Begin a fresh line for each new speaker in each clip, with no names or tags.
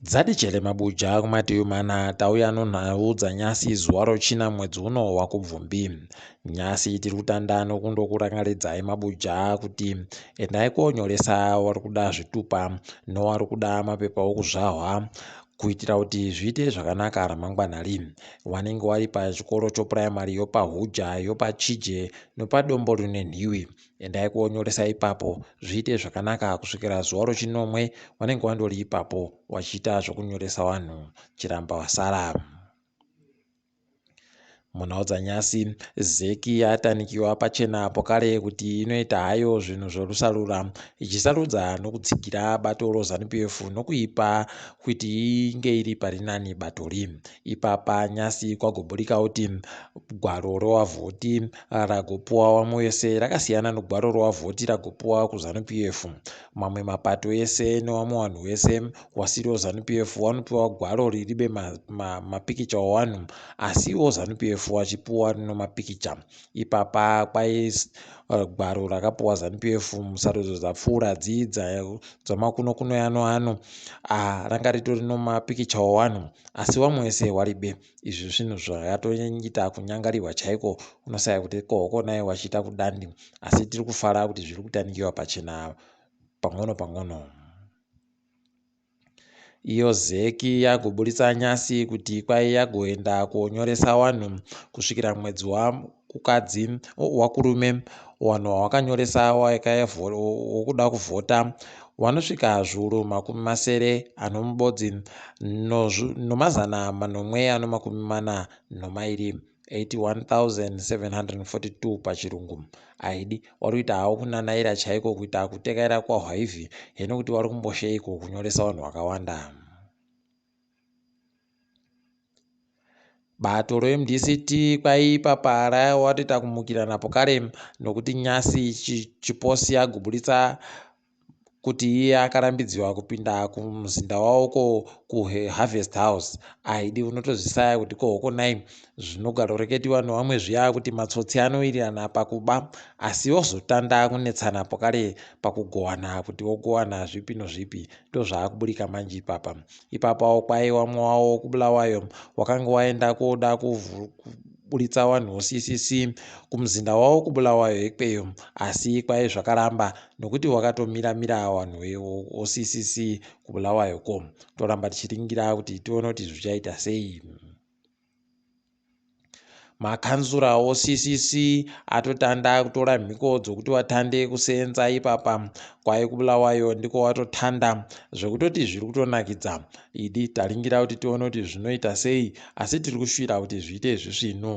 dzadijele mabuja kumativi mana tauya nonhau dzanyasi zuva rochina mwedzi uno wakubvumbi nyasi tiri kutanda nokundokurangaridzai mabuja kuti endai konyoresa wari kuda zvitupa nowari kuda mapepa okuzvahwa kuitira kuti zviite zvakanaka ramangwana ri wanenge wari pachikoro chopuraimari yopahuja yopachije nopadombo rine nhiwi endai kuonyoresa ipapo zviite zvakanaka kusvikira zuva rochinomwe wanenge wandori ipapo wachiita zvokunyoresa vanhu chiramba wasara Munhaodzanyasi, zeki yatanikiwa pachena apo kare kuti inoita hayo zvinhu zvorusarura, ichisarudza nokutsigira bato roZanu-PF nokuipa kuti inge iri parinani batori. Ipapa nyasi kwagoburika kuti gwaro rowavhoti ragopuwa wamwe wese rakasiyana nogwaro rowavhoti ragopuwa kuZanu-PF. Mamwe mapato ese newamwe wanhu wese wasiri weZanu PF wanopiwa gwaro riribe mapikicha ma, ma owanhu asi iwo Zanu PF wachipiwa rino mapikicha ipapa kwai uh, gwaro rakapiwa Zanu PF musarudzo dzapfuura dzii dzamakuno kuno yano ano uh, ranga ritori no mapikicha owanhu asi wamwe wese waribe izvi zvinhu zvakatoita kunyangarirwa chaiko unosaya kuti kohoko naye wachiita kudandi asi tiri kufara kuti zviri kutanikiwa pachena pang'ono pang'ono iyo zec yagoburitsa nyasi kuti kwai yagoenda konyoresa wanhu kusvikira mwedzi wakukadzi wakurume wanhu wawakanyoresa wokuda kuvhota wanosvika zvuru makumi masere anomubodzi nomazana manomwe anomakumi mana nomairi no 81742 pachirungu haidi wari kuita hawo kunanaira chaiko kuita kutekaira kwahwaivi heno kuti wari kumbosheiko kunyoresa vanhu vakawanda bato remdct kwaipa para watoita kumukira napo kare nokuti nyasi chiposi yaguburitsa kuti iye akarambidziwa kupinda kumuzinda wavo ko kuharvest house ahidi unotozvisaya kuti ko hoko nai zvinogaroreketiwa nevamwe zviya kuti matsotsi anowirirana pakuba asi ozotanda kunetsana pokare pakugowana kuti wogowana zvipi nozvipi ndozvaakuburika manje ipapa ipapawo kwaiwa mwowa wokubulawayo wakanga waenda koda buritsa wanhu uccc kumuzinda wawo kubulawayo ikweyo asi ikwai zvakaramba nokuti wakatomira mira wanhu uccc kubulawayo ko toramba tichiringira kuti tione kuti zvichaita sei makanzura occc atotanda kutora mhiko dzokuti watande kuseenza ipapa kwai kubulawayo ndiko watotanda zvekutoti zviri kutonakidza idi taringira kuti tione kuti zvinoita sei asi tiri kushuvira kuti zviite izvi zvino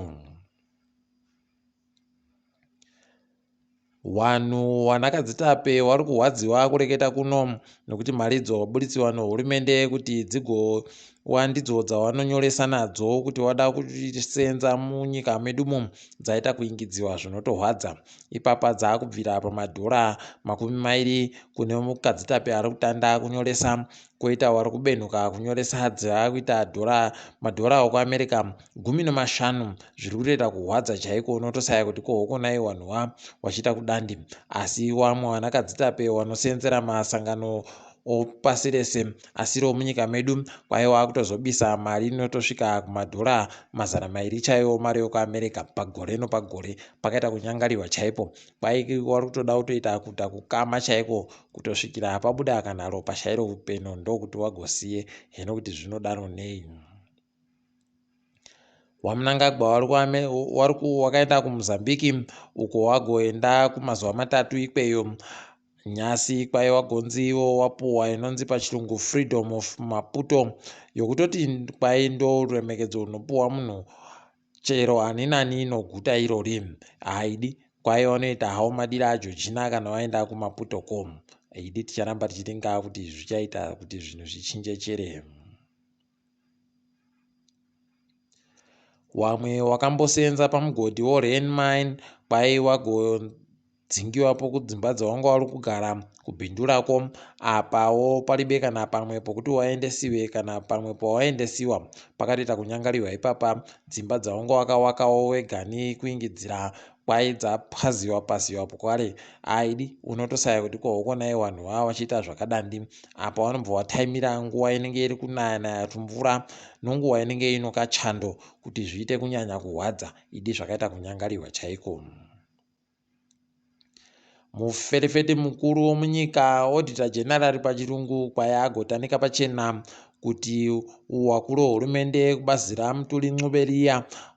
wanhu wanakadzitape wari kurwadziwa kureketa kuno nokuti mari idzo waburitsirwa nehurumende kuti dzigowa ndidzo dzawanonyoresa nadzo kuti wada kusenza munyika medu mu dzaita kuingidziwa zvinotorwadza ipapa dzaakubvira pamadhora makumi mairi kune mukadzitape ari kutanda kunyoresa koitawo ari kubenhuka kunyoresa hadzi akuita dhora madhorawo kuamerica gumi nemashanu zviri kutoita kuhwadza chaiko unotosaya kuti ko hokonai wanhuwa wachiita kudandi asi wamwe wanakadzitape wanoseenzera masangano opasi rese asiriwo munyika medu kwaye waakutozobisa mari inotosvika kumadhora mazana mairi chaiwo mari yokuamerica pagore nopagore pakaita kunyangarirwa chaipo kwaiki wari kutoda kutoita kuta kukama chaiko kutosvikira hapabuda kana ropa chairo upeno ndokuti wagosiye heno kuti zvinodaro nei wamunangagwa wari wakaenda kumozambiki uko wagoenda kumazuva matatu ikweyo nyasi kwaye wagonzi iwo wapuwa inonzi pachirungu freedom of maputo yokutoti kwaye ndo ruremekedzo runopuwa munhu Chero ani nani inoguta irori haidi kwaye wanoita hawo madira ajojina kana waenda kumaputo ko idi ticharamba tichiti ngaa kuti zvichaita kuti zvinhu zvichinje chere wamwe wakambosenza pamugodhi worhen mine kwaye wago dzingiwapo kudzimba dzawanga wari kugara kubindu rako apawo paribe kana pamwe pokuti waendesiwe kana pamwe pawaendesiwa pakatoita kunyangarirwa ipapa dzimba dzawanga wakawakawo wegani kuingidzira kwai dzapwaziwa pasiwa pokare aidi unotosaya kuti kohokonai vanhu vava vachiita zvakadandi apa wanobva wataimira nguva inenge iri kunaya naya tumvura nonguva inenge inokachando kuti zviite kunyanya kurwadza idi zvakaita kunyangarirwa chaiko Muferefete mukuru womunyika, Auditor General pachirungu, kwaye agotanika pachena kuti wakuru hurumende kubazira mutuli ncuberiya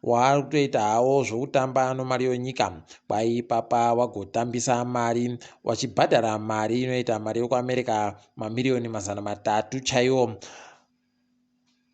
waari kutoita hawo zvokutamba nomari yonyika kwaye ipapa wagotambisa mari wachibhadhara mari inoita mari yokuamerica mamiriyoni mazana matatu chaiwo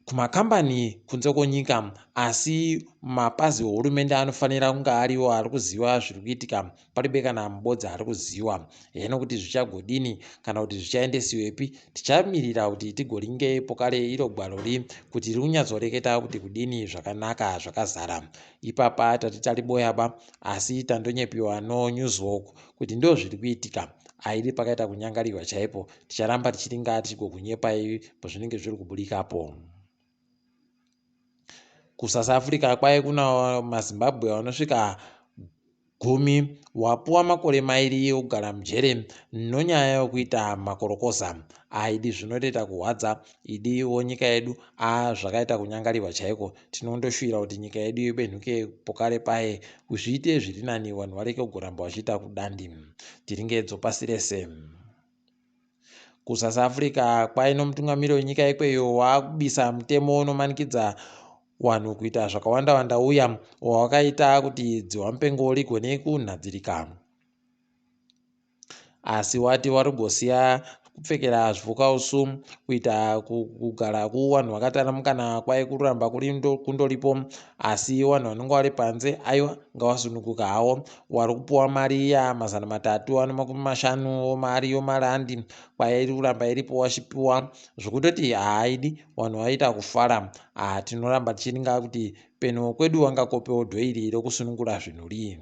kumakambani kunze kwenyika asi mapazi ehurumende anofanira kunge ariwo ari kuziva zviri kuitika paribe kana mubodzi ari kuziva heno kuti zvichagodini kana kuti zvichaendesiwepi tichamirira kuti tigoringe ipo kare iro gwalori kuti riri kunyatsoreketa kuti kudini zvakanaka zvakazara ipapa tati tariboyaba asi tandonyepiwa nonewswalk kuti ndo zviri kuitika aidi pakaita kunyangariwa chaipo ticharamba tichiti ngaa tichigokunyepai pazvinenge zviri kubudikapo kusouth africa kwaye kuna mazimbabwe vanosvika gumi wapuwa makore mairi yokugara mujere nonyaya yokuita makorokoza aidi zvinotoita kuhwadza idi wonyika yedu a zvakaita kunyangarirwa chaiko tinondoshuvira kuti nyika yedu yobenhuke pokare paye kuzviite zviri nani vanhu vareke kugoramba vachiita kudandi tiringedzo pasi rese kusouth africa kwaino mutungamiri wenyika ikweyo waakubisa mutemo unomanikidza wanhu kuita zvakawanda wanda uya wawakaita kuti dziwamupengo rigone kunhadzirika asi wati wari kugosiya kupfekera zvipfukausu kuita kugara kuwanhu vakatana mukana kwai kuramba kundoripo asi wanhu vanenge vari panze aiwa ngavasununguka hawo wari kupiwa mari iya mazana matatu ano makumi mashanu omari yomarandi kwaya iri kuramba iripo wachipiwa zvokutoti haaidi vanhu vaita kufara haa tinoramba tichiringa kuti penuwo kwedu wangakopewo dhoiri rokusunungura zvinhu rii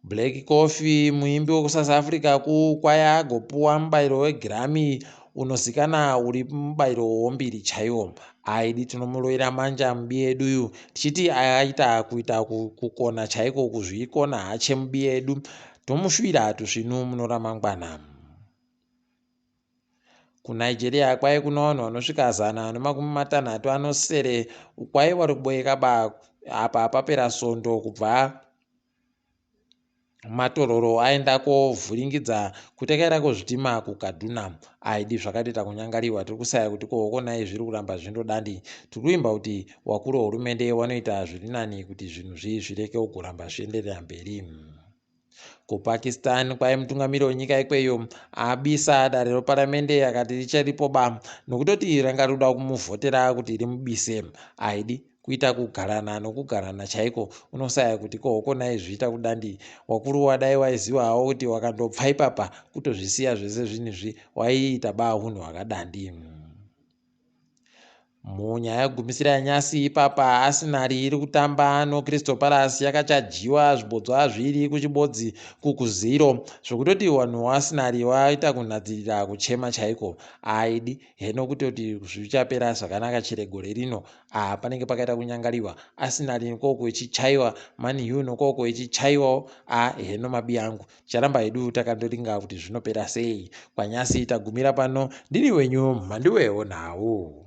Black Coffee, muimbi wekuSouth Africa kukwaya agopuwa mubairo weGrammy unozikana uri mubairo wombiri chaiwo. Aidi tinomuroira manje amubi edu uyu tichiti aita kuita kukona chaiko kuzviikona hache mubi edu. Tomushuvira hatusvinu muno ramangwana. kunigeria kwaye kuna vanhu vanosvika zana nemakumi matanhatu anosere kwaye vari kuboyeka ba apa papera sondo kubva matororo aenda kovhuringidza kuti akaenda kozvitima kukaduna aidi zvakatoita kunyangariwa tiri kusaya kuti kohokonai zviri kuramba zvindodandi tiri kuimba kuti wakuru wehurumende wanoita zviri nani kuti zvinhu zvi zvireke kugoramba zvienderera mberi kupakistan kwaye mutungamiri wenyika ikweyo abisa dare reparamende akati richaripo ba nokutoti ranga rikuda kumuvhotera kuti rimubise aidi kuita kugarana nokugarana chaiko unosaya kuti ko hoko nai zviita kudandii wakuruwa dai waiziva hawo kuti wakandobva ipapa kutozvisiya zvese zvinizvi waiita baa hunhu hwakadandii mm. munyaya gumisira yanyasi ipapa asinari iri kutamba nocrystal palace yakachajiwa zvibodzwa azviri kuchibodzi kukuziro zvekutoti vanhu asinari vaita kunhadzirira kuchema chaiko aidi heno kutoti zvichapera zvakanaka chere gore rino Ah panenge pakaita kunyangaliwa Arsenal nokoko ichichaiwa Man U nokoko ichichaiwawo ah heno mabi angu ticharamba hedu takandoringa kuti zvinopera sei kwanyasi tagumira pano ndini wenyu mhanduwewo nhau